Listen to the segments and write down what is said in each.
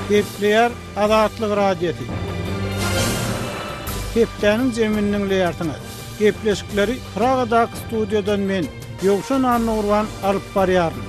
Gepleýär Azatlyk Radiosy. Hepdäniň jemini diňleýärsiňiz. Gepleşikleri Pragadaky studiýadan men, Ýowşan Annagurban alyp barýaryn.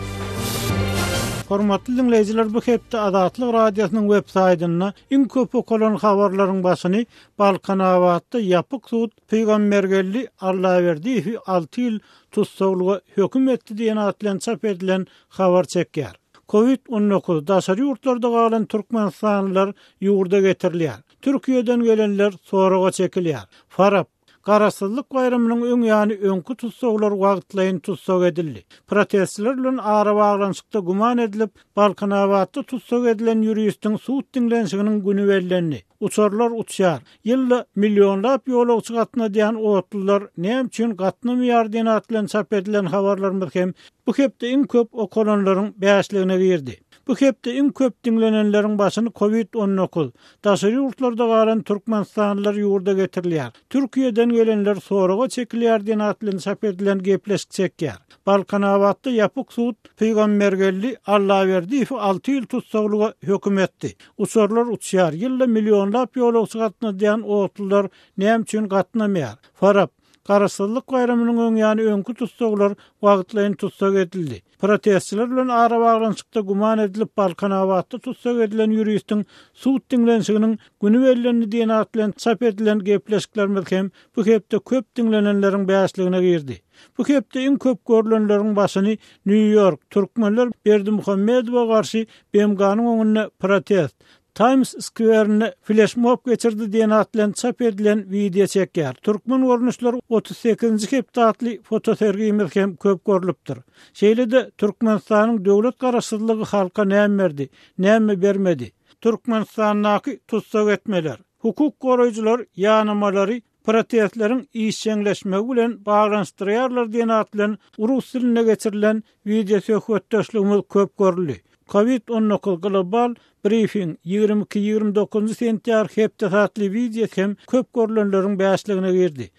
Hormatly diňleýjiler, bu hepde Azatlyk Radiosynyň web saýtynda iň köp okalan habarlaryň başyny Balkanabatda ýapyk sud Pygambergeldi Allaberdiýewi alty ýyl tussaglyga höküm etdi diýen at bilen çap edilen habar çekýär. Covid on dokuz, daşary ýurtlarda galan türkmenistanlylar ýurda getirilýär. Türkiýeden gelenler soraga çekilýär. Farap, Garaşsyzlyk baýramynyň öň ýany öňki tussaglar wagtlaýyn tussag edildi. Protestçiler bilen arabaglanyşykda güman edilip, Balkanabatda tussag edilen ýuristiň sud diňlenişiginiň güni bellendi. Uçarlar uçýar. Ýylda millionlap ýolagçy gatnadýan otlular näme üçin gatnamaýar diýen at bilen çap edilen habarlarymyz hem bu hepde iň köp okalanlaryň bäşligine girdi. Bu hepde iň köp diňlenenleriň başyny covid on dokuz, daşary ýurtlarda galan türkmenistanlylar ýurda getirilýär, Türkiýeden gelenler soraga çekilýär diýen at bilen çap edilen gepleşik çekýär. Balkanabatda ýapyk sud Pygambergeldi Allaberdiýewi alty ýyl tussaglyga höküm etdi. Uçarlar uçýar, ýylda millionlap ýolagçy gatnadýan otlular näme üçin gatnamaýar? Farap, Garaşsyzlyk baýramynyň öň ýany öňki tussaglar wagtlaýyn tussag edildi. Protestçiler bilen arabaglanyşykda güman edilip Balkanabatda tussag edilen ýuristiň sud diňlenişiginiň güni bellendi diýen at bilen çap edilen gepleşiklerimiz hem bu hepde köp diňlenenleriň bäşligine girdi. Bu hepde iň köp görlenleriň başyny Nýu-Ýork, Türkmenler Berdimuhamedowa garşy BMG-niň öňünde protest, Taýms skwerinde fleşmob geçirdi diýen at bilen çap edilen wideo çekýär. Türkmen görnüşleri otuz sekizinji hepde atly fotosergimiz hem köp görlüpdir. Şeýle-de Türkmenistanyň döwlet garaşsyzlygy halka näme berdi, näme bermedi? Türkmenistandaky tussag etmeler. Hukuk goraýjylar ýanamalary protestleriň işjeňleşmegi bilen baglanyşdyrýarlar diýen at bilen rus dilinde geçirilen wideosöhbetdeşligimiz köp görüldi. Covid on dokuz global brifing ýigrimi iki, ýigrimi dokuzynjy sentýar hepdesi atly wideo hem köp görülenleriň bäşligine girdi.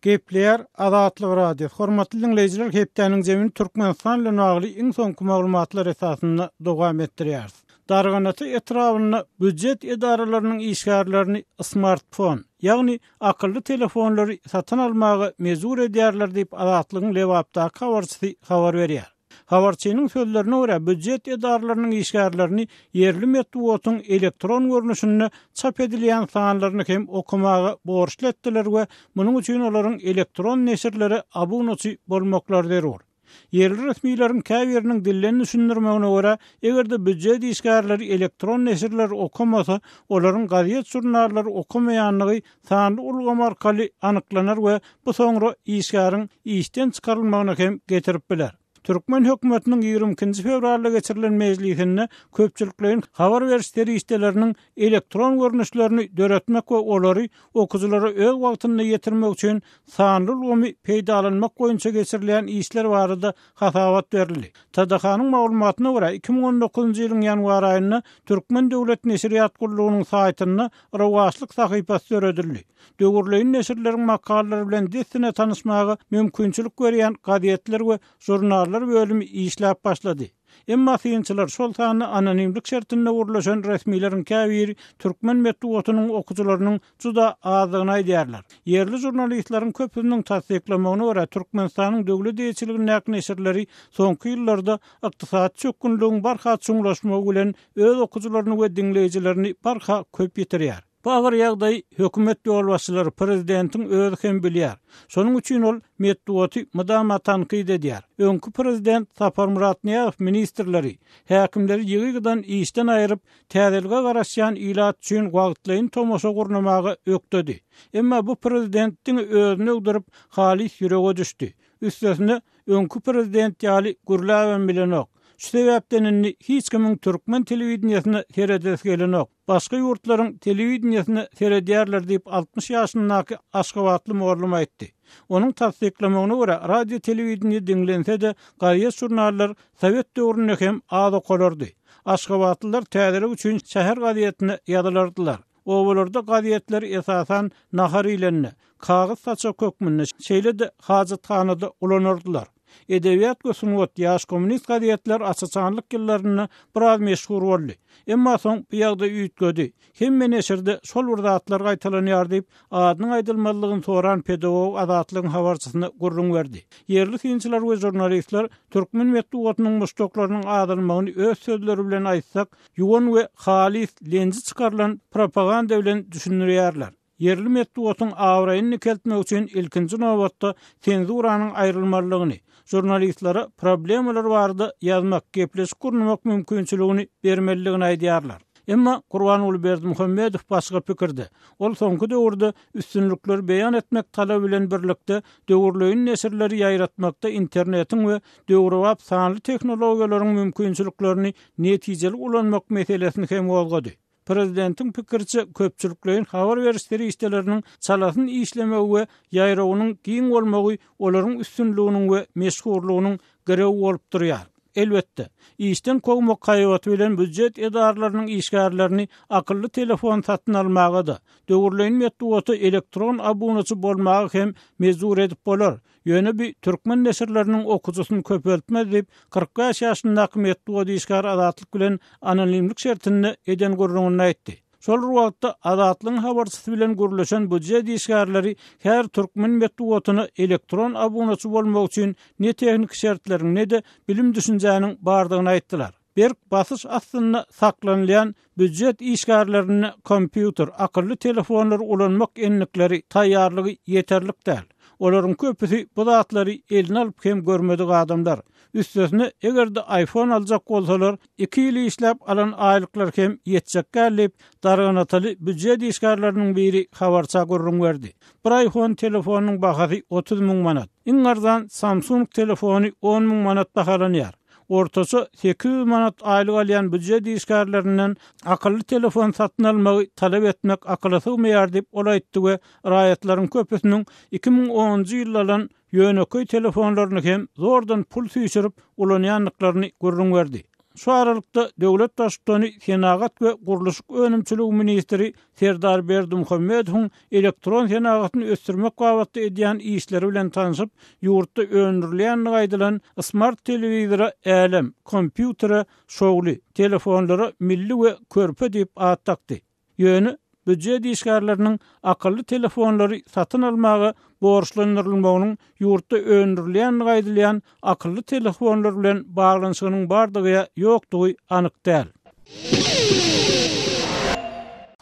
Gepleýär Azatlyk Radiosy, Hormatly diňleýjiler, hepdäniň jemini Türkmenistan bilen bagly iň soňky maglumatlar esasynda dowam etdirýäris. Darganata etrabynda býujet edaralarynyň işgärlerini smartfon, ýagny akylly telefonlary satyn almaga mejbur edýärler diýip, Azatlygyň Lebapdaky habarçysy habar berýär. Habarçynyň sözlerine görä, býujet edaralarynyň işgärlerini ýerli metbugatyň elektron görnüşinde çap edilýän sanlaryny hem okamaga borçly etdiler we munuň üçin olaryň elektron neşirlere abunaçy bolmaklary zerur. Ýerli resmileriň käbiriniň dilden düşündirmegine görä, eger-de býujet işgärleri elektron neşirleri okamasa, olaryň gazet-žurnallary okamaýandygy sanly ulgam arkaly anyklanar we bu soňra işgäriň işden çykarylmagyna hem getirip biler. Türkmen hökümetiniň ýigrimi ikinji fewralda geçirilen mejlisinde köpçülikleýin habar beriş serişdeleriniň elektron görnüşlerini döretmek we olary okyjylara öz wagtynda ýetirmek üçin sanly ulgamy peýdalanmak boýunça geçirilýän işler barada hasabat berildi. TDH-nyň maglumatyna görä, iki müň on dokuzynjy ýylyň ýanwar aýynda Türkmen döwlet neşirýat gullugynyň saýtynda rowaçlyk sahypasy döredildi. Döwürleýin neşirleriň makalalary bilen dessine tanyşmaga mümkinçilik berýän gazetler we žurnallar bölümi işläp başlady. Emma synçylar, şol sanda anonimlik şertinde gürleşen resmileriň käbiri türkmen metbugatynyň okyjylarynyň juda azdygyny aýdýarlar. Ýerli žurnalistleriň köpüsiniň tassyklamagyna görä, Türkmenistanyň döwlet eýeçiligindäki neşirleri soňky ýyllarda ykdysady çökgünligiň barha çuňlaşmagy bilen öz okyjylaryny we diňleýjilerini barha köp ýitirýär. Bu agyr ýagdaýy hökümet ýolbaşçylary, prezidentiň özi hem bilýär. Şonuň üçin ol metbugaty mydama tankyt edýär. Öňki prezident Saparmyrat Nyýazow ministrleri, häkimleri ýygy-ýygydan işden aýryp, täzelige garaşýan ilat üçin wagtlaýyn tomaşa gurnamaga ökdedi. Emma bu prezident diňe özüni öwdürip, halys ýürege düşdi. Üstesine, öňki prezident ýaly gürläbem bilenok. Şu sebäpden indi hiç kimiň türkmen telewideniýesine seredesi gelenok. Başga ýurtlaryň telewideniýesine seredýärler diýip, altmyş ýaşyndaky aşgabatly mugallym aýtdy. Onuň tassyklamagyna görä, radio-telewideniýe diňlense-de, gazet-žurnallar sowet döwründe hem az okalardy. Aşgabatlylar täzelik üçin şäher gazetine ýazylardylar. Obalarda gazetleri esasan nahar iýlende, kagyz saçak hökmünde, şeýle-de hajathanada ulanardylar. Edebiýat we sungat, Ýaş kommunist gazetler Asaçanlyk ýyllarynda biraz meşhur boldy. Emma soň bu ýagdaý üýtgedi. Hemme neşirde şol bir zatlar gaýtalanýar diýip, adynyň aýdylmazlygyny soran pedagog Azatlygyň habarçysyna gürrüň berdi. Ýerli synçylar we žurnalistler türkmen metbugatynyň muşdaklarynyň azalmagyny öz sözleri bilen aýtsak, ýuwan we halys lenji çykarylan propaganda bilen düşündirýärler. Ýerli metbugatyň abraýyny dikeltmek üçin ilkinji nobatda senzuranyň aýrylmalydygyny, žurnalistlere problemalar barada ýazmak, gepleşik gurnamak mümkinçiligini bermelidigini aýdýarlar. Emma Gurbanguly Berdimuhamedow başga pikirde. Ol soňky döwürde üstünlikleri beýan etmek talaby bilen birlikde döwürleýin neşirleri ýaýratmakda internetiň we döwrebap sanly tehnologiýalaryň mümkinçiliklerini netijeli ulanmak meselesini hem gozgady. Prezidentiň pikiriçe, köpçülikleýin habar beriş serişdeleriniň çalasyn işlemegi we ýaýrawynyň giň bolmagy olaryň üstünliginiň we meşhurlygynyň girewi bolup durýar. Elbetde, işden kowmak haýbaty bilen býujet edaralarynyň işgärlerini akylly telefon satyn almaga-da, döwürleýin metbugata elektron abunaçy bolmaga hem mejbur edip bolar, Ýöne bi türkmen neşirleriniň okyjysyny köpeltmez diýip, kyrk bäş ýaşyndaky metbugat işgäri Azatlyk bilen anonimlik şertinde eden gürrüňinde aýtdy. Şol bir wagtda, Azatlygyň habarçysy bilen gürleşen býujet işgärleri her türkmen metbugatyna elektron abunaçy bolmak üçin ne tehniki şertleriň, ne-de bilim-düşünjäniň bardygyny aýtdylar. Berk basyş astynda saklanylýan býujet işgärlerinde kompýuter, akylly telefonlary ulanmak endikleri, taýýarlygy ýeterlik däl. Olaryň köpüsi bu zatlary eline alyp hem görmedik adamlar. Üstesine, eger-de iPhone aljak bolsalar, iki ýyl işläp alan aýlyklar hem ýetjek däl diýip, darganataly býujet işgärleriniň biri habarça gürrüň berdi. Bir iPhone telefonynyň bahasy otuz müň manat. Iň arzan Samsung telefony on müň manat bahalanýar. ortaça sekiz ýüz manat aýlyk alýan býujet işgärlerinden akylly telefon satyn almagy talap etmek akyla sygmaýar diýip, ol aýtdy we raýatlaryň köpüsiniň iki müň onunjy ýylda alan ýönekeý telefonlaryny hem zordan pul süýşürip ulanýandyklaryny gürrüň berdi. Şu aralykda, döwlet baştutany senagat we gurluşyk önümçiligi ministri Serdar Berdimuhamedowyň elektron senagatyny ösdürmek babatda edýän işleri bilen tanşyp, ýurtda öndürilýändigi aýdylan smart telewizora Älem, kompýutere Şowly, telefonlara Milli we Körpe diýip at dakdy. Ýöne býujet işgärleriniň akylly telefonlary satyn almaga borçlandyrylmagynyň Ýurtda öndürilýänligi aýdylýan akylly telefonlar bilen baglanyşygynyň bardygy ýa ýokdugy anyk däl.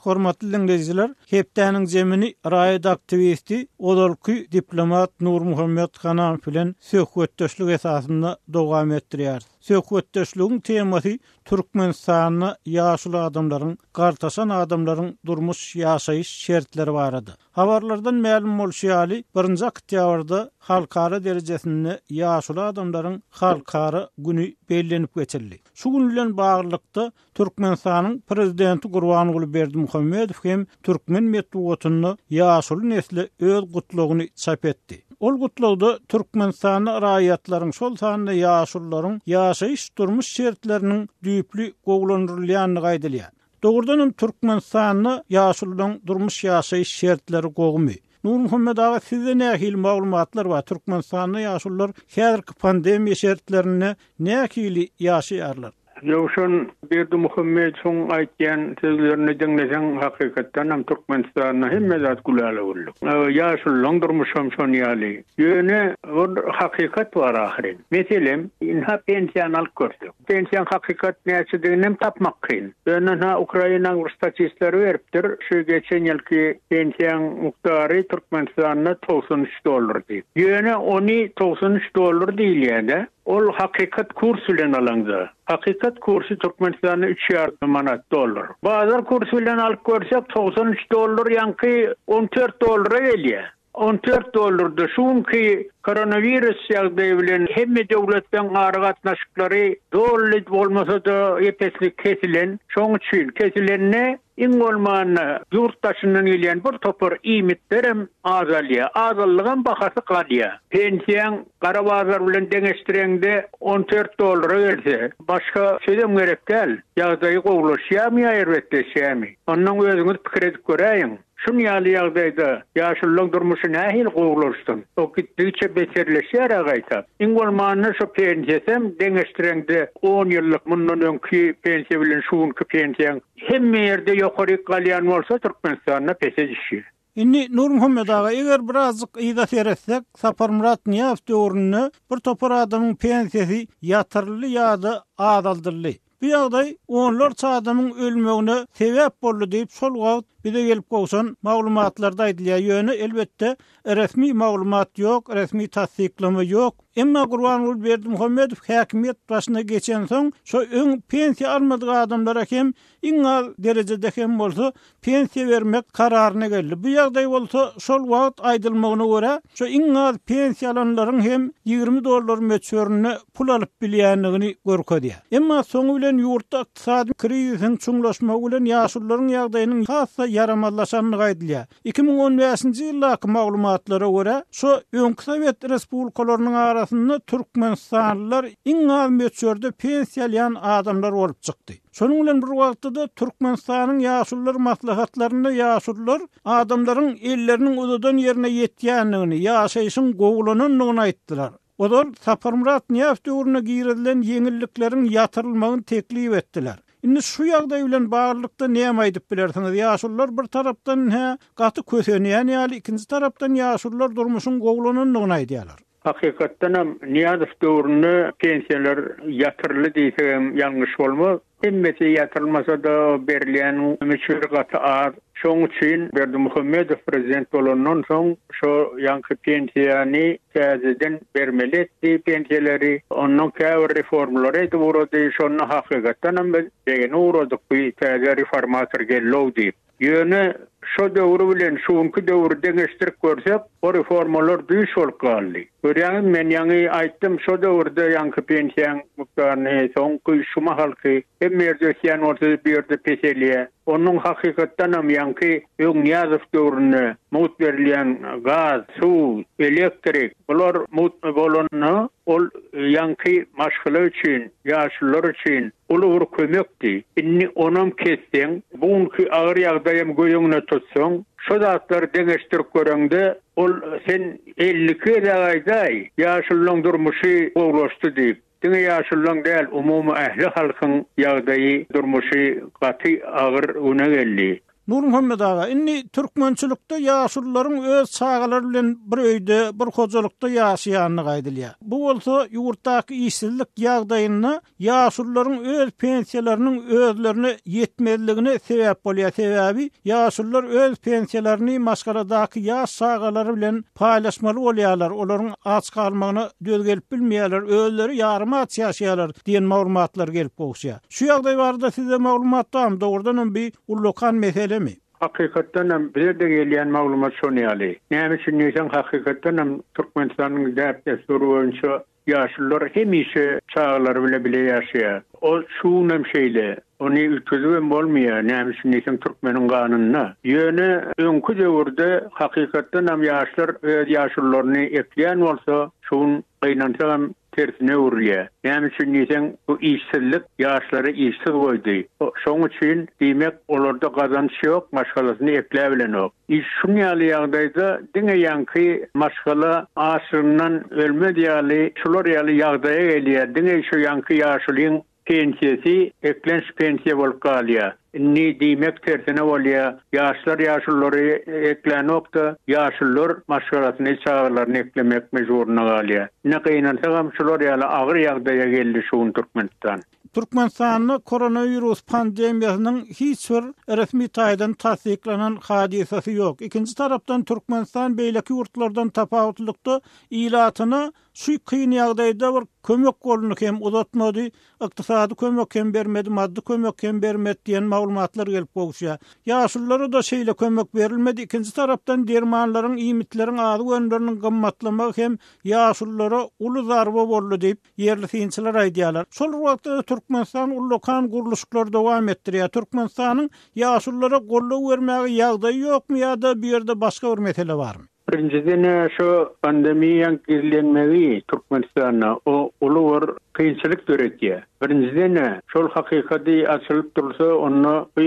Hormatly diňleýjiler, hepdäniň zemini raýat aktiwisti, ozalky diplomat Nurmuhammet Hanaow bilen söhbetdeşlik esasynda dowam etdirýäris. Söhbetdeşligiň temasy Türkmenistanda ýaşuly adamlaryň, gartaşan adamlaryň durmuş-ýaşaýyş şertleri barada. Habarlardan mälim bolşy ýaly, birinji oktýabrda halkara derejesinde Ýaşuly adamlaryň halkara güni bellenip geçildi. Şu gün bilen baglylykda, Türkmenistanyň Prezidenti Gurbanguly Berdimuhamedow hem türkmen metbugatynda ýaşuly nesle öz Gutlagyny çap etdi. Ol Gutlagda Türkmenistanda raýatlaryň, şol sanda ýaşulularyň ýaşaýyş-durmuş şertleriniň düýpli gowulandyrylýandygy aýdylýar. Dogrudan hem Türkmenistanda ýaşulularyň durmuş ýaşaýyş şertleri gowymy? Nurmuhammet aga sizde nähili maglumatlar bar Türkmenistanda ýaşulular häzirki pandemiýa şertlerinde nähili ýaşaýarlar? Röwşen Berdimuhamedowyň aýtýan sözlerini diňleseň hakykatdan hem Türkmenistanda hemme zat gülala güllük. Ýaşulularyň durmuşam şon ýaly. Ýöne bir hakykat bar ahyryn. Meselem ynha pensiýany alyp görsek. Pensiýaň hakykat näçediginem tapmak kyn. Ýöne-ha Ukrainaň bir statistlary beripdir, şu geçen ýylky pensiýaň mukdary Türkmenistanda togsan üç dollar diýip. Ýöne ony togsan üç dollar diýilýä-de, ol hakykat kurs bilen alaňda. Hakykat kursy Türkmenistanda üç ýarym manat dollar. Bazar kursy bilen alyp görsek togsan üç dollar ýaňky on dört dollara gelýä. On dört dolardy. Şu günki koronawirus ýagdaýy bilen hemme döwletleň aragatnaşyklary doly bolmasa-da epeslik kesilen. Şoň üçin kesilende iň bolmanda ýurt daşyndan gelýän bir topar iýmitlerem azalýar. Azalygam bahasy galýar. Pensiýaň gara bazar bilen deňeşdireňde on dört dollara gelse, başga sözem gerek däl. Ýagdaýy gowulaşýarmy ýa erbetleşýärmi? Ondan özüňiz pikir edip göräýiň. Şuny ýaly ýagdaýda ýaşululaň durmuşy nähili gowulaşsyn? O gitdigiçe beterleşýär-ä gaýta. Iň bolmanda şu pensiýasam deňeşdireňde on ýyllyk mundan öňki pensiýa bilen şu günki pensiýaň hemme ýerde ýokaryk galýan bolsa Türkmenistanda pese düşýär. Indi Nurmuhammet aga eger birazjyk yza seretsek Saparmyrat Nyýazow döwründe bir topar adamyň pensiýasy ýatyryldy ýa-da azaldyldy. Bu ýagdaý onlarça adamyň ölmegine sebäp boldy diýip, şol wagt bize gelip gowşan maglumatlarda aýdylýar. Ýöne, elbetde, resmi maglumat ýok, resmi tassyklama ýok. Emma Gurbanguly Berdimuhamedow häkimiýet başyna geçensoň, şo öň pensiýa almadyk adamlara hem iň az derejede hem bolsa pensiýa bermek kararyna geldi. Bu ýagdaý bolsa, şol wagt aýdylmagyna görä, şu iň az pensiýa alanlaryň hem ýigrimi dollar möçberinde pul alyp bilýändigini görkezýär. Emma soňy bilen ýurtda ykdysady krizisiň çuňlaşmagy bilen ýaşulularyň ýagdaýynyň has-da ýaramazlaşandygy aýdylýar. Iki müň on bäşinji ýyldaky maglumatlara görä, şu öňki sowet respublikalarynyň arasynda türkmenistanlylar iň az möçberde pensiýa alýan adamlar bolup çykdy. Şonuň bilen bir wagtda-da, Türkmenistanyň Ýaşulular maslahatlarynda ýaşulular adamlaryň elleriniň uzadan ýerine ýetýändigini, ýaşaýşyň gowulanandygyny aýtdylar. Olar Saparmyrat Nyýazow döwründe girizilen ýeňillikleriň ýatyrylmagyny teklip etdiler. Indi şu ýagdaý bilen baglylykda näme aýdyp bilersiňiz? Ýaşulular bir tarapdan hä gaty kösenýän ýaly, ikinji tarapdan ýaşulular durmuşyň gowulanandygyny aýdýarlar. Hakykatdan hem Nyýazow döwründe pensiýalar ýatyryldy diýsek hem ýalňyş bolmaz. Hemmesi ýatyrylmasa-da, berilýän möçberi gaty az. Şonuň üçin Berdimuhamedow prezident bolandan soň şo ýaňky pensiýany täzeden bermeli etdi pensiýalary. Ondan käbir reformlary edip ugrady. Şonda hakykatdan hem biz degine ugradyk, bu täze reformator geldi-ow diýip. Ýöne şo döwri bilen şu günki döwri deňeşdirip görsek, o reformalar düýş bolup galdy. Görýäňizmi, men ýaňy aýtdym, şo döwürde ýaňky pensiýaň mukdaryny, soňky şu mahalky, hemme ýerde ösýän bolsa-da, bu ýerde peselýär. Onuň hakykatdanam ýaňky Öňňýazow döwründe mugt berilýän gaz, suw, elektrik, bular mugt bolanda, Ol ýaňky maşgala üçin, ýaşulular üçin uly bir kömekdi. Indi onam kesseň, bu günki agyr ýagdaýam göz öňüne tutsaň, şo zatlary deňeşdirip göreňde, ol sen elliki gezek aýdaý, ýaşululaň durmuşy gowulaşdy diýip. Diňe ýaşululaň däl, umumy ähli halkyň ýagdaýy, durmuşy gaty agyr güne geldi. Nurmuhammet aga, indi türkmençilikde ýaşulularyň öz çagalary bilen bir öýde, bir hojalykda ýaşaýandygy aýdylýar. Bu bolsa ýurtdaky işsizlik ýagdaýynda ýaşulularyň öz pensiýalarynyň özlerine ýetmezligine sebäp bolýar, sebäbi ýaşulular öz pensiýalaryny maşgaladaky ýaş çagalary bilen paýlaşmaly bolýarlar, olaryň aç galmagyna döz gelip bilmeýärler, özleri ýarym aç ýaşaýarlar diýen maglumatlar gelip gowuşýar. Şu ýagdaý barada sizde maglumat barmy? Dogrudanam bi ullakan meselemi? Hakykatdanam bizede gelýän maglumat şon ýaly. Näme üçin diýseň hakykatdanam Türkmenistanyň däp dessury boýunça ýaşullar hemişe çagalary bile bile ýaşaýar. O şu günem şeýle. Ony üýtgedibem bolmaýar. Näme üçin diýseň türkmeniň ganynda. Ýöne öňki döwürde hakykatdanam ýaşlar öz ýaşullaryny ekleýän bolsa şu gün gynansagam tersine öwrülýär. Näme üçin diýseň, bu işsizlik ýaşlary işsiz goýdy. Şoň üçin, diýmek, olarda gazanç ýok, maşgalasyny ekläbilenok. Iş şun ýaly ýagdaýda diňe ýaňky maşgala açlygyndan ölmez ýaly, şular ýaly ýagdaýa gelýär. Diňe şu ýaňky ýaşulyň pensiýasy eklenç pensiýa bolup galýar. Indi diýmek tersine bolýar, ýaşlar ýaşululary eklänokda, ýaşulular maşgalasyny, çagalaryny eklemek mejburyna galýar. Ine gynansagam şular ýaly agyr ýagdaýa geldi şu gün Türkmenistan. Türkmenistanda koronawirus pandemiýasynyň hiç bir resmi taýdan tassyklanan hadysasy ýok. Ikinji tarapdan Türkmenistan beýleki ýurtlardan tapawutlylykda ilatyna Şu kyn ýagdaýda bir kömek goluny hem uzatmady, ykdysady kömek hem bermedi, maddy kömek hem bermedi diýen maglumatlar gelip gowuşýar. Ýaşululara-da şeýle kömek berilmedi, ikinji tarapdan dermanlaryň, iýmitleriň, azyk önümleriniň gymmatlamagy hem ýaşululara uly zarba boldy diýip, ýerli synçylar aýdýarlar. Şol bir wagtda-da Türkmenistan ullakan gurluşyklary dowam etdirýär. Türkmenistanyň ýaşululara gollaw bermäge ýagdaýy ýokmy ýa-da bu ýerde başga bir mesele barmy? Birinjiden şu pandemiýaň gizlenmegi Türkmenistanda o uly bir kynçylyk döredýär. Birinjiden şol hakykady açylyp dursa onda bu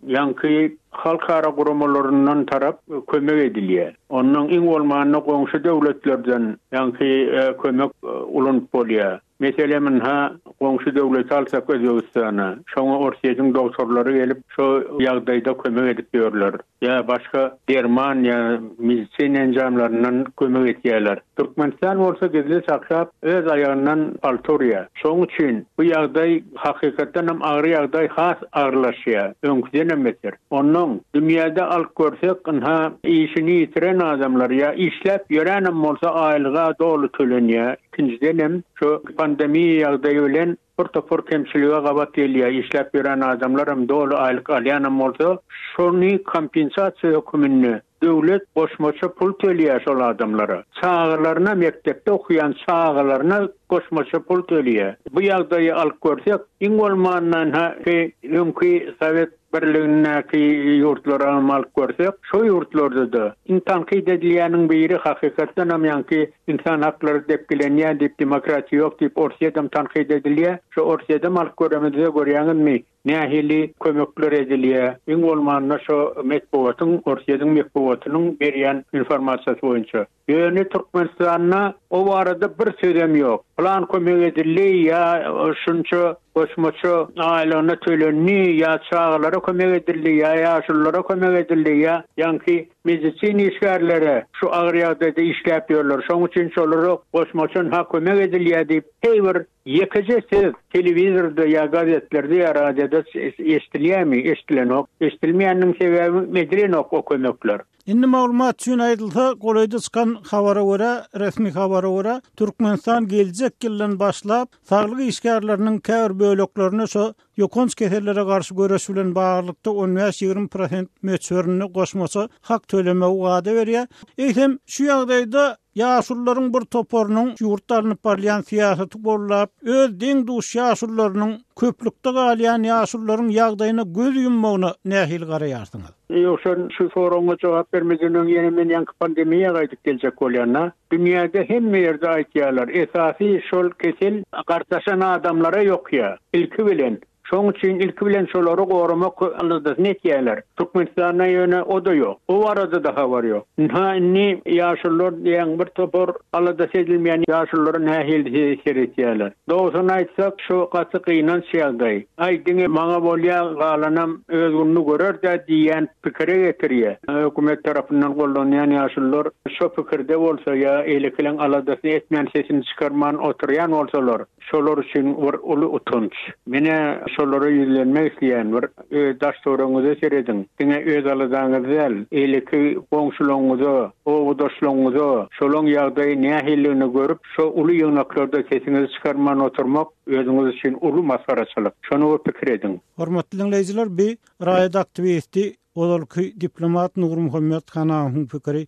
ýaňky halkara guramalaryndan tarap kömek edilýär. Ondan iň bolmanda goňşy döwletlerden ýaňky kömek ulanyp bolýar. Meselem ynha, goňşy döwleti alsak Özbegistany, şoňa Orsýetiň dogtorlary gelip, şo ýagdaýda kömek edip ýörler. Ýa başga derman ýa medisina enjamlaryndan kömek etýärler. Türkmenistan bolsa gizlin saklap, öz aýagyndan palta urýar. Şoň üçin bu ýagdaý hakykatdan hem agyr ýagdaý has agyrlaşýar, öňküdenem beter. Onnoň, dünýäde alyp görsek, ynha, işini ýitiren adamlar ýa işläp ýöränem bolsa aýlyga doly tölenýär. Ikinjiden hem, şu pandemiýa ýagdaýy bilen bir topar kemçilige gabat gelýär, işläp ýören adamlar hem, doly aýlyk alýan hem bolsa, şony kompensasiýa höküminde döwlet goşmaça pul tölýär şol adamlara. Çagalaryna, mekdepde okaýan çagalaryna goşmaça pul tölýär. Bu ýagdaýy alyp görsek, iň bolmanda, hä, öňki sowet Birligindäki ýurtlary hem alyp görsek, şo ýurtlarda-da, iň tankyt edilýäniň biri, hakykatdan hem ýaňky ynsan haklary depgilenýär diýip, demokratiýa ýok diýip, Orsýedem tankyt edilýär. Şo Orsýedem alyp göremizde, görýäňizmi, nähili kömekler edilýär. Iň bolmanda şo metbugatyň, Orsýediň metbugatynyň berýän informasiýasy boýunça. Ýöne Türkmenistanda o barada bir sözem ýok. Plan kömek edildi ýa şunça goşmaça aýlygyna tölendi ýa çagalara kömek edildi ýa ýaşululara kömek edildi ýa ýaňky medisina işgärlere şu agyr ýagdaýda işläp ýörler şoň üçin şolara goşmaçan ha kömek edilýä diýip heý bir ýekeje söz telewizorda ýa gazetlerde ýa radioda eşdilýämi eşdilenok eşdilmeýäniniň sebäbi edilenok o kömekler. Indi maglumat üçin aýdylsa, golaýda çykan habara görä, resmi habara görä, Türkmenistan geljek ýyldan başlap, saglyk işgärleriniň käbir böleklerine şu ýokanç kesellere garşy göreş bilen baglylykda on bäş-ýigrimi prosent möçberinde goşmaça hak tölemegi wada berýär. Eýsem, şu ýagdaýda Ýaşulularyň bir toparynyň ýurtda alnyp barylýan syýasaty goldap, öz deň-duş ýaşulularynyň, köplükde galýan ýaşulularyň ýagdaýyna göz ýummagyna nähili garaýarsyňyz? Ýogsa şu soragyňa jogap bermeden öň ýene men ýaňky pandemiýa gaýdyp geljek bolýan-da. Dünýäde hemme ýerde aýdýarlar, esasy şol kesel gartaşan adamlara ýokýar. Ilki bilen, Şoň üçin ilki bilen şolary goramak aladasyny etýärler. Türkmenistanda ýöne o-da ýok. O barada-da habar ýok. Ynha indi ýaşulular diýen bir topar aladasy edilmeýän ýaşulara nähili seretýärler. Dogrusyny aýtsak, şu gaty gynanç ýagdaý. Aý, diňe maňa bolýa, galanam öz gününi görer-dä diýýän pikire getirýär. Hökümet tarapyndan gollanýan ýaşulular şo pikirde bolsa ýa-da elekileň aladasyny etmän sesini çykarman oturýan bolsalar, Şolar üçin bir uly utanç. Menä şolara ýüzlenmek isleýän bir öz daş-töweregiňize serediň. Diňe öz aladaňyzy däl, eýleki goňşulaňyza, obadaşlaňyza şolaň ýagdaýy nähilidigini görüp, şo uly ýygnaklarda sesiňizi çykarman oturmak özüňiz üçin uly masgaraçylyk. Şony bir pikir ediň. Hormatly diňleýjiler bi raýat aktiwisti Ozalky diplomat Nurmuhammet Hanahowyň pikiri.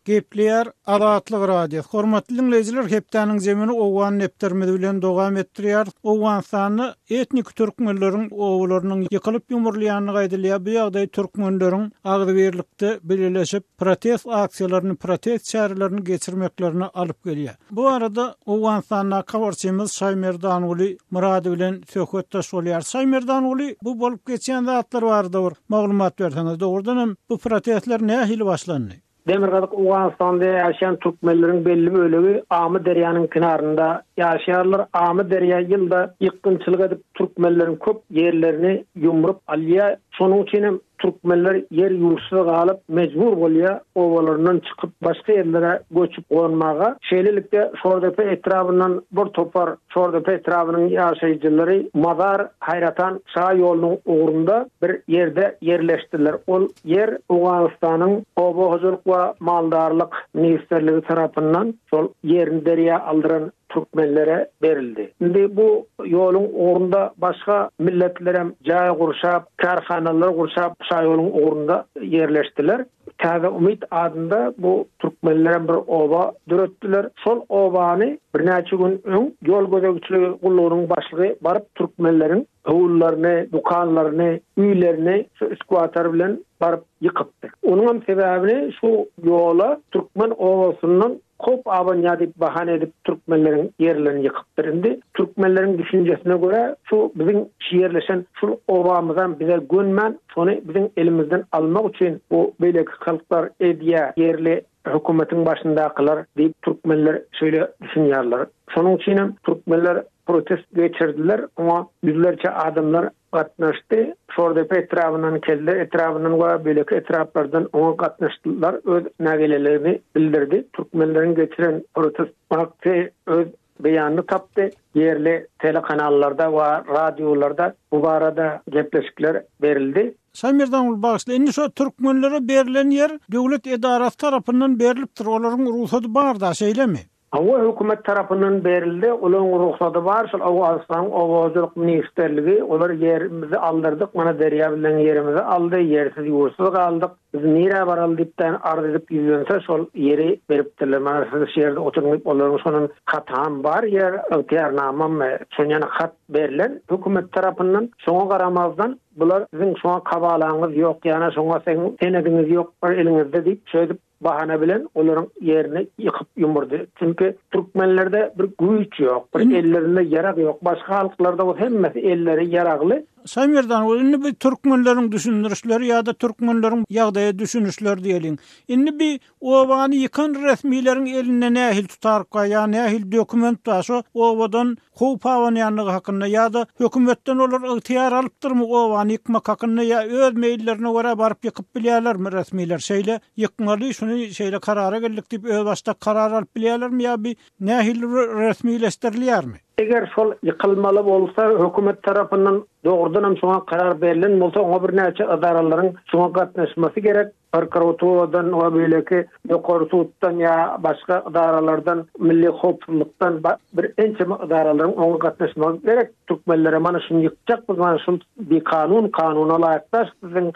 Gepleýär Azatlyk Radiosy. Hormatly diňleýjiler, hepdäniň zemini owgan depderimiz bilen dowam etdirýärys. Owganystanda etniki türkmenleriň obalarynyň ýykylyp-ýumrulýandygy aýdylýar. Bu ýagdaý türkmenleriň agzybirlikde bileleşip, protest aksiýalaryny, protest çärelerini geçirmeklerine alyp gelýär. Bu barada Owganystandaky habarçymyz Şaýmerdanguly Myrad bilen söhbetdeş bolýar. Şaýmerdanguly, bu bolup geçýän zatlar barada bir maglumat berseňiz, dogrudan hem bu protestler nähili başlandy? Demirgazyk Owganystanda ýaşaýan türkmenleriň belli bölegi Amyderýanyň kenarynda ýaşaýarlar. Amyderýa ýylda ýykgynçylyk edip, türkmenleriň köp ýerlerini ýumrup alýar. Şonuň üçin hem Türkmenler ýer-ýurtsyz galyp, mejbur bolýar obalaryndan çykyp, başga ýerlere göçüp-gonmaga. Şeýlelikde, Şordepe etrabyndan bir topar Şordepe etrabynyň ýaşaýjylary Mazar Haýratan şa ýolunyň ugrunda bir ýerde ýerleşdiler. Ol ýer Owganystanyň Oba hojalyk we maldarlyk ministrligi tarapyndan şol ýerini derýa aldyran türkmenlere berildi. Indi bu ýoluň ugrunda başga milletler hem jaý gurşap, kärhanalar gurşap şaýoluň ugrunda ýerleşdiler. Täze Umyt adynda bu türkmenler hem bir oba döretdiler. Şol obany birnäçe gün öň ýol gözegçiligi gullugynyň başlygy baryp türkmenleriň howlylaryny, dükanlaryny, öýlerini şu üskuwatar bilen baryp ýykypdyr. Onuň hem sebäbini şu ýola türkmen obasyndan Kop abanýa diýip bahana edip türkmenleriň ýerlerini ýykypdyr. Indi türkmenleriň düşünjesine görä şu biziň şu ýerleşen şul obamyzam bize gönmän şony biziň elimizden almak üçin bu beýleki halklar edýä ýerli hökümetiň başyndakylar diýip türkmenler şeýle düşünýärler. Şonuň üçinem türkmenler protest geçirdiler oňa ýüzlerçe adamlar gatnaşdy. Şordepe etrabyndan, Kelle etrabyndan we beýleki etraplardan oňa gatnaşyjylar öz nägileligini bildirdi. Türkmenleriň geçiren protest aksiýasy öz beýanyny tapdy. Ýerli telekanallarda we radiolarda bu barada gepleşikler berildi. Şaýmerdanguly bagyşla, indi şo türkmenlere berlen ýer döwlet edarasy tarapyndan berlipdir, olaryň rugsady bar-da, şeýlemi? Hawa hökümet tarapyndan berildi olaň rugsady bar şol Owganystanyň oba hojalyk ministrligi olar ýerimizi aldyrdyk mana derýa bizden ýerimizi aldy ýersiz ýurtsyz galdyk biz nirä baraly diýip daýan arz edip ýüzlense şol ýeri beripdirler mana siz şu ýerde oturyň diýip olaryň şonuň hatyam bar ýer ygtyýarnamamy şonuň ýaly hat berlen hökümet tarapyndan şoňa garamazdan bular siziň şoňa kabalaňyz ýok ýana şoňa seň senediňiz ýok bir eliňizde diýip şeýdip bahana bilen olaryň ýerini ýykyp ýumurdy. Çünki türkmenlerde bir güýç ýok, bir ellerinde ýarag ýok. Başga halklarda bolsa hemmesi elleri ýaragly. Şaýmerdan we indi biz türkmenleriň düşündirişleri ýa-da türkmenleriň ýagdaýa düşünişleri diýeliň. Indi bi obany ýykan resmileriň elinde nähili tutarka ýa nähili dokument bar? Şo obadan howp abanýandygy hakynda ýa-da hökümetden olar ygtyýar alypdyrmy obany ýykmak hakynda ýa öz meýillerine görä baryp ýykyp bilýärlermi resmiler şeýle ýykmaly şuny şeýle karara geldik diýip özbaşdak karar alyp bilýärlermi ýa bi nähili resmileşdirilýärmi? Eger şol ýykylmaly bolsa hökümet tarapyndan dogrudanam şoňa karar berlen bolsa oňa birnäçe ydaralaryň şoňa gatnaşmasy gerek. prokuraturadan we beýleki ýokary suddan ýa başga edaralardan, milli howpsuzlykdan bir ençeme edaralaryň oňa gatnaşmagy gerek. Türkmenlere mana şuny ýykjak biz mana şul bikanun kanuna laýyk daş siziň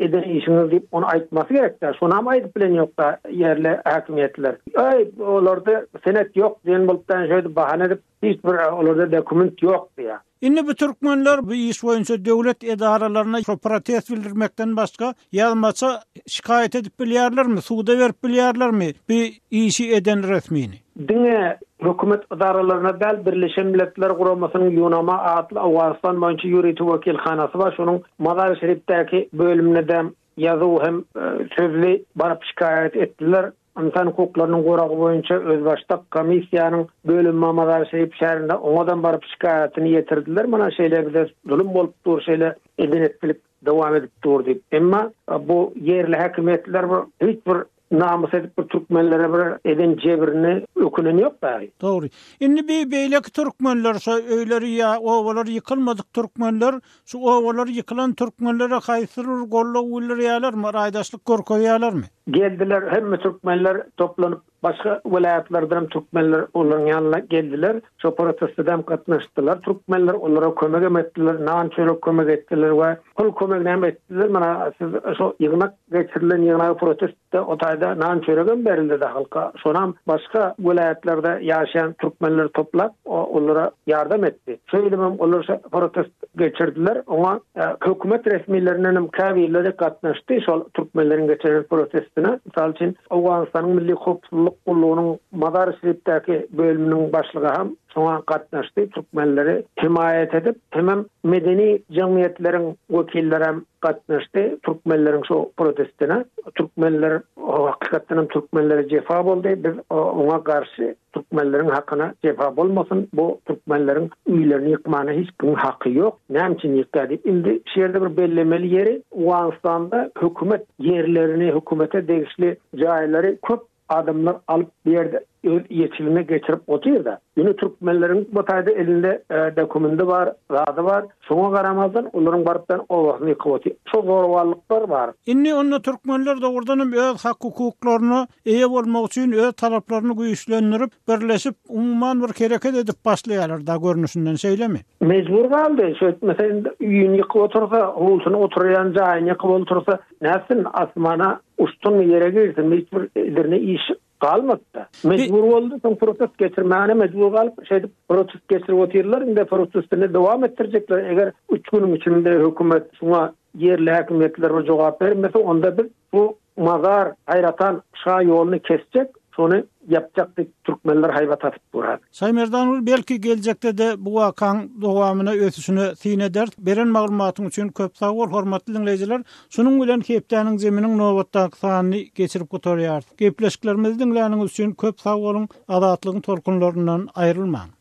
eden işiňiz diýip ony aýtmasy gerek dä şonam aýdyp bilen ýok da ýerli häkimiýetler. Öý olarda senet ýok diýen bolup da şeýdip bahana edip Hiç bir olarda dokument ýok diýýär. Indi bu türkmenler bu iş boýunça döwlet edaralaryna şo protest bildirmekden başga ýazmaça şikaýat edip bilýärlermi, suda berip bilýärlermi bu işi eden resmini? Diňe hökümet edaralaryna däl, Birleşen Milletler Guramasynyň Ýunama atly Owganystan boýunça ýörite wekilhanasy bar, şonuň Mazar-i-Şerifdäki bölümine däm ýazuw hem sözli baryp şikaýat etdiler. Ynsan hukuklarynyň goragy boýunça özbaşdak komissiýanyň bölümi Mamazarşerif şäherinde oňadan baryp şikaýatyny ýetirdiler, mana şeýle bize zulum bolup dur, şeýle eden-etdilik dowam edip dur diýip. Emma bu ýerli häkimiýetler bir hiç bir namys edip bir türkmenlere bir eden jebrini ökünen ýok dagy. Dogry. Indi bi beýleki türkmenler, şo öýleri ýa obalar ýykylmadyk türkmenler Şu obalar ýykylan türkmenlere haýsy bir goldaw bildirýälermi, raýdaşlyk görkezýälermi? Geldiler, hemme türkmenler toplanyp, başga welaýatlardanam türkmenler olaryň ýanyna geldiler. Şo protestedem gatnaşdylar türkmenler, olara kömegem etdiler, nan-çörek kömek etdiler we pul kömeginem etdiler. Mana, siz şo ýygnak Geçirilen ýygnagy protestde o taýda nan çöregem berildi-de halka, şonam başga welaýatlarda ýaşaýan türkmenleri toplap olara ýardam etdi. Şeýdibem olar şo protest geçirdiler, oňa hökümet resmilerindenem käbirleri gatnaşdy şol türkmenleriň geçiren protestine. Mysal üçin Owganystanyň Milli howpsuzlyk gullugynyň Mazar-i Şerifdäki bölüminiň başlygy hem Şoňa gatnaşdy türkmenleri hemaýat edip, hemem medeni jemgyýetleriň wekillerem gatnaşdy türkmenleriň şu protestine. Türkmenler hakykatdan hem türkmenlere jefa boldy. Biz oňa garşy türkmenleriň hakyna jefa bolmasyn. Bu türkmenleriň öýlerini ýykmana hiç kimiň haky ýok. Näme üçin ýykýar diýip. Indi şu ýerde bir bellemeli ýeri, Owganystanda hökümet ýerlerini, hökümete degişli jaýlary köp Adamlar alyp bu ýerde öz ýeçiline geçirip otyrda. Ýöne türkmenleriň bu taýda elinde dokumendi bar, zady bar. Şoňa garamazdan olaryň barypdan obasyny ýykyp otyr. Şo zorbalyklar bar. Indi onda türkmenler dogrudanam öz hak-hukuklaryna eýe bolmak üçin öz talaplaryny güýçlendirip, birleşip, umuman bir hereket edip başlaýarlar da görnüşinden şeýlemi? Mejbur galdy. Şeýtmese indi öýüni ýykyp otyrsa, howlusyny oturýan jaýyny ýykyp oltursa, Nätsin, asmana uçsunmy, ýere girsinmi, hiç bir edirne iş galmady-da. Mejbur boldy, soň protest geçirmäne mejbur galyp, şeýdip protest geçirip otyrlar, indi protestini dowam etdirjekler, eger üç günüň içinde hökümet şuňa ýerli häkimiýetler bir jogap bermese, onda biz bu mazar haýratan şa ýoluny kesjek, Şony ýapjak diýip türkmenler haýbat atyp duran. Şaýmerdanogly belki geljekde-de bu wakaň dowamyna ösüşine syn eder. Beren maglumatyň üçin köp sag bol hormatly diňleýjiler. Şunuň bilen Hepdäniň jeminiň nobatdaky sanyny geçirip gutarýarys. Gepleşiklerimizi diňläniňiz üçin köp sag boluň, Azatlygyň tolkunlaryndan aýrylmaň.